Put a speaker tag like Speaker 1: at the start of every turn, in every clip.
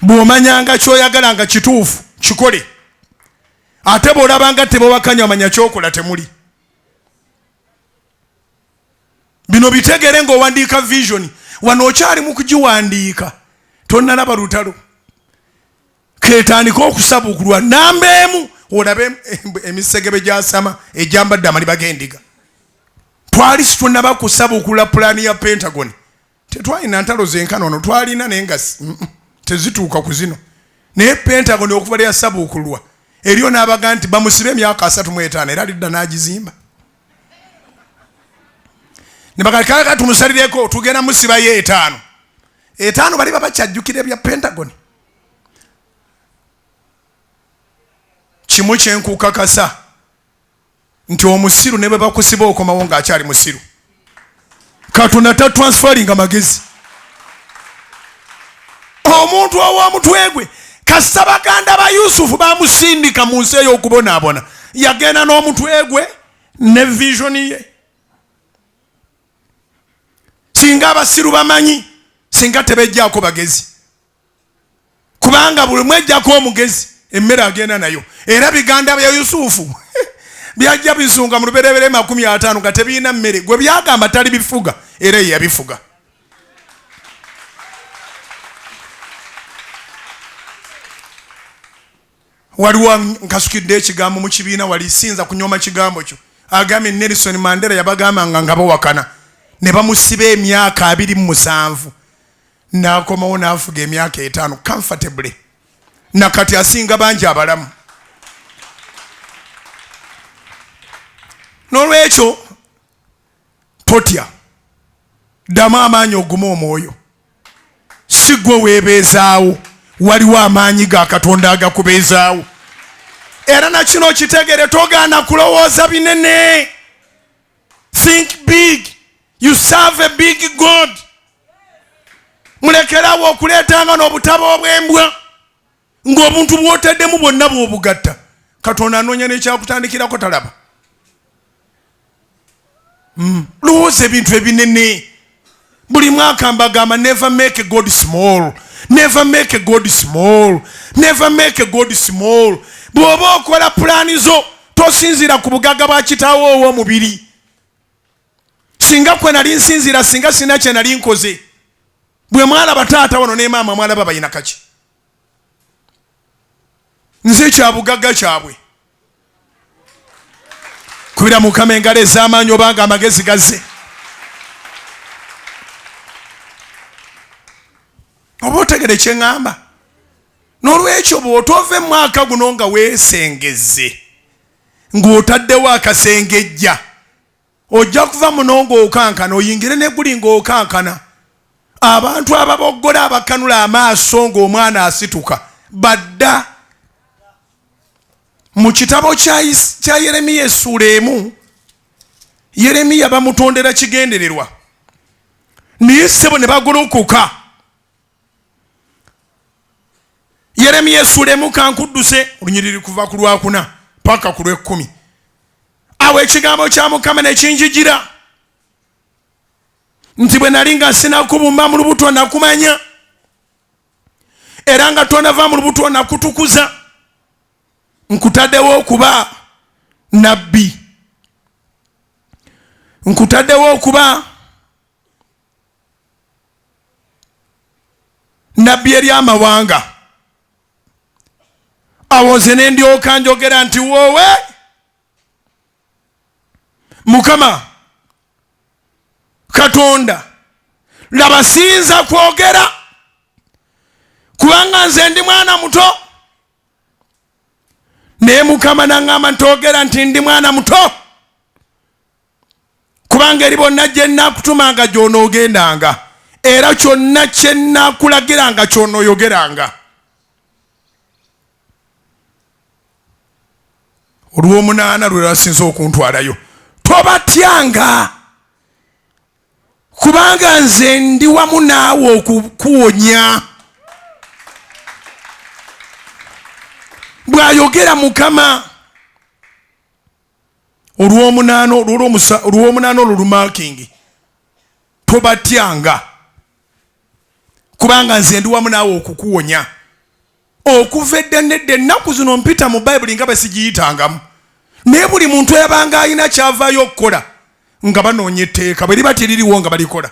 Speaker 1: bw'omanyanga ky'oyagala nga kituufu kikole ate bw'olabanga tebawakanya omanya kyokola temuli bino bitegere ng'owandiika visioni wano okyali mu kugiwandiika tonnalaba lutalo ketandika okusabukulwa namba emu olabe emisegebe gyasama egyambadde amaliba g'endiga twali situnnaba kusabukula pulaani ya pentagon tetwalina ntalo zenkana ono twalina naye nga tezituuka ku zino naye pentagon okuva lyasabuukulwa eriyo n'abaga nti bamusibe emyaka asatu mu etaano era lidda n'agizimba nebakakaka tumusalireko tugenda musibayo etaano etaano bali babakyajjukira ebya pentagon kimu kyenkukakasa nti omusiru ne bwe bakusiba okomawo ng'akyali musiru katonda ta transferinga magezi omuntu ow'omutwe gwe kasita baganda ba yusufu bamusindika mu nsi ey'okubonaabona yagenda n'omutwe gwe ne visioni ye singa abasiru bamanyi singa tebejjaako bagezi kubanga buli mwejjako omugezi emmere agenda nayo era biganda bya yusufu byajja bizunga mu luberebere makumi ataano nga tebirina mmere gwe byagamba tali bifuga era yeyabifuga waliwo nkasukidde ekigambo mu kibiina wali sinza kunyoma kigambo kyo agambye nelson mandela yabagambanga nga bawakana ne bamusiba emyaka abiri mu musanvu n'akomawo n'afuga emyaka etaano comfortably na kati asinga bangi abalamu n'olwekyo totya ddamu amaanyi ogume omwoyo si gwe weebeezaawo waliwo amaanyi ga katonda agakubeezaawo era na kino kitegere togaana kulowooza binene think big You serve a big God. Mulekerawo okuleetanga n'obutabo obw'embwa ng'obuntu bw'otaddemu bwonna bw'obugatta katonda anoonya n'ekyakutandikirako talaba hmm. lowooza ebintu ebinene buli mwaka mbagamba never make god small never make god small never make god small bw'oba okola pulaani zo tosinziira ku bugaga bwa kitaawo ow'omubiri singa kwe nali nsinziira singa sina kye nali nkoze bwe mwalaba taata wano ne maama mwalaba balina kaki nze kyabugagga kyabwe kubira mukama engalo ez'amaanyi obanga amagezi gazze oba otegere kyeŋŋamba n'olwekyo bw'otova emwaka guno nga weesengezze ng'otaddewo akasengejja ojja kuva muno ng'okankana oyingire neguli ng'okankana abantu ababoggola abakanula amaaso ng'omwana asituka badda mu kitabo kya yeremiya essuula emu yeremiya bamutondera kigendererwa naye ssebo ne bagolokoka yeremiya esuula emu kankudduse olunyiriri kuva ku lwakuna paka ku lwekkumi awo ekigambo kya mukama nekinjigira nti bwe nali nga sinakubumba mu lubuto nakumanya era nga tonava mu lubuto nakutukuza nkutaddewo okuba nabbi nkutaddewo okuba nabbi eri amawanga awo nze ne ndyoka njogera nti woowe mukama katonda laba siyinza kwogera kubanga nze ndi mwana muto naye mukama naŋŋamba nti ogera nti ndi mwana muto kubanga eri bonna gye nnakutumanga gy'onoogendanga era kyonna kye nnakulagiranga ky'onooyogeranga olw'omunaana lwe lwasinza okuntwalayo tobatyanga kubanga nze ndi wamu naawe okukuwonya bw'ayogera mukama olwomunaana olwomunaana olwo lumakingi tobatyanga kubanga nze ndi wamu naawe okukuwonya okuva edda nedda ennaku zino mpita mu bayibuli nga besigiyitangamu naye buli muntu yabanga alina kyavaayo okukola nga banoonya etteeka bwe liba teririwo nga balikola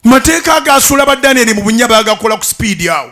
Speaker 1: mateeka agaasuula ba danieli mu bunya bagakola ku sipiidi awo